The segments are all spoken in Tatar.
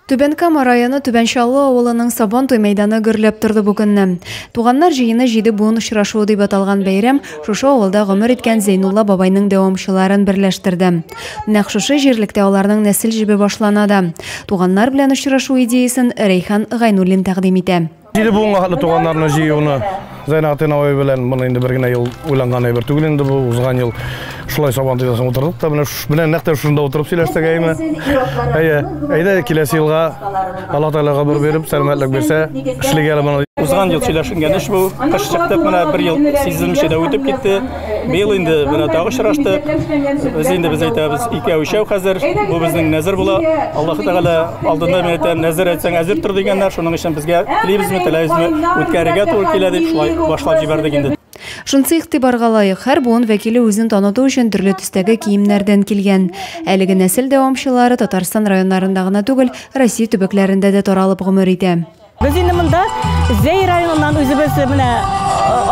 Түбән Кама районы Түбән Чаллы авылының Сабантуй мәйданы гөрләп торды бу көнне. Туганнар җыены җиде буын очрашуы дип аталган бәйрәм шушы авылда гомер иткән Зәйнулла бабайның дәвамчыларын берләштерде. Нәкъ шушы җирлектә аларның нәсел җебе башлана да. Туганнар белән очрашу идеясен Рәйхан Гайнуллин тәкъдим итә. Җиде буынга хәтле туганнарны җыюны Зәйнәгатин абый белән моны инде бер генә ел уйланган әйбер түгел инде бу узган ел шулай сабан тизәсен утырдык та менә менә нәкъ тә шунда утырып сөйләштек әйме әйе әйдә киләсе елга алла тәгалә гомер биреп сәламәтлек бирсә эшлегә әле моны узган ел сөйләшенгән эш бу кыш чыктык менә бер ел сизелмичә дә үтеп китте Быел инде менә тагы очрашты. Без инде без әйтәбез, икәү өчәү хәзер. Бу безнең нәзер була. Аллаһ Тәгалә алдында мин әйтәм, нәзер әйтсәң әзер тор дигәннәр. Шуның өчен безгә телибезме, теләйбезме, үткәрергә туры килә дип шулай башлап җибәрдек инде. Шунысы игътибарга лаек, һәр буын вәкиле үзен таныту өчен төрле төстәге киемнәрдән килгән. Әлеге нәсел дәвамчылары Татарстан районнарында гына түгел, Россия төбәкләрендә дә таралып гомер итә. Без инде монда Зәй районыннан үзебез менә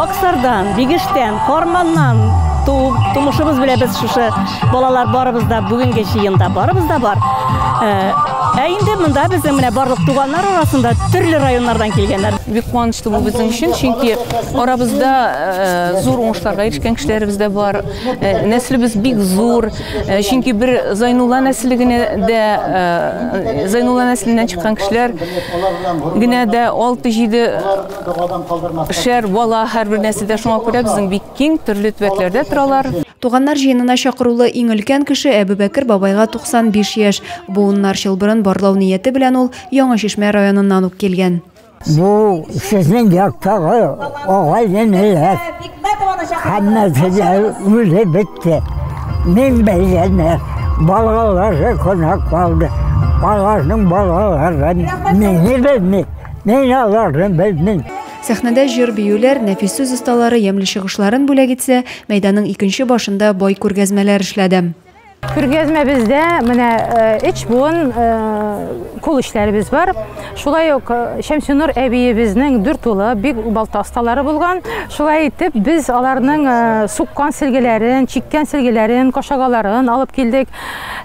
Аксардан, Бигештән, Карманнан туып, тумышыбыз белән без шушы балалар барыбыз да бүгенге җыенда барыбыз да бар. Ә инде монда безнең менә барлык туганнар арасында төрле районнардан килгәннәр. Бик куанычлы бу безнең өчен, чөнки арабызда зур уңышларга ирешкән кешеләребез дә бар. Нәселебез бик зур, Э, чөнки бер Зайнулла нәселе генә дә э, Зайнулла нәселеннән чыккан кешеләр генә дә 6-7 шәр бала һәрбер нәселдә шуңа күрә безнең бик киң төрле төбәкләрдә торалар. Туганнар җыенына чакырулы иң өлкән кеше Әбүбәкер бабайга 95 яшь. Буыннар чылбырын барлау нияте белән ул Яңа Чишмә районыннан ук килгән. Бу сезнең яктагы агай-энеләр һәммәсе дә үле бетте. Мин бәйләнә балалары кунак калды. Аларның балалары мине белми, мин аларны белмим. Сәхнәдә җыр биюләр, нәфис сүз осталары ямьле чыгышларын бүләк итсә, мәйданның икенче башында бай күргәзмәләр эшләде. Күргәзмәбездә менә эч буын кул эшләребез бар. Шулай ук Шәмсинур әбиебезнең дүрт улы бик балта осталары булган. Шулай итеп, без аларның суккан сөлгеләрен, чиккән сөлгеләрен, кашагаларын алып килдек.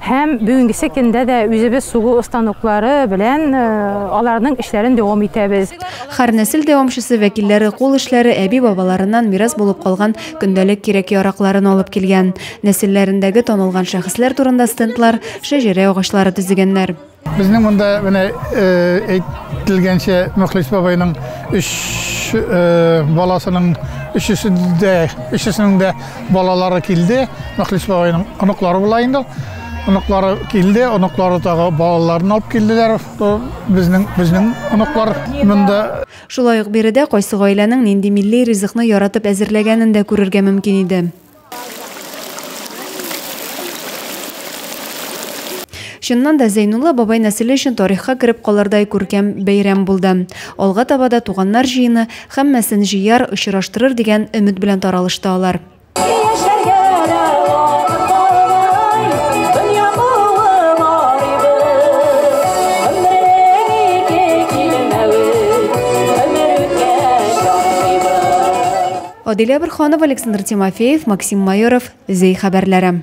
Һәм бүгенгесе көндә дә үзебез сугу останоклары белән аларның эшләрен дәвам итәбез. Хәр нәсел дәвамчысы вәкилләре кул эшләре әби-бабаларыннан мирас булып калган көндәлек кирәк-яракларын алып килгән. Нәселләрендәге танылган шәхесләр турында стендлар, шәҗәрә агачлары төзегәннәр. Безнең монда менә э, әйтелгәнчә Мөхлис бабайның өч э, баласының өчесе дә өчесенең дә балалары килде. Мөхлис бабайның оныклары була инде. Оныклары килде, оныклары тагы балаларын алып килделәр. Э, безнең безнең оныклар монда Шулай ук биредә кайсы гаиләнең нинди милли ризыкны яратып әзерләгәнен дә күрергә мөмкин иде. Чыннан да Зәйнулла бабай нәселе өчен тарихка кереп калырдай күркәм бәйрәм булды. Алга таба да туганнар җыены һәммәсен җыяр, очраштырыр дигән өмет белән таралышты алар. Адилә Борһанова, Александр Тимофеев, Максим Майоров, Зәй хәбәрләре.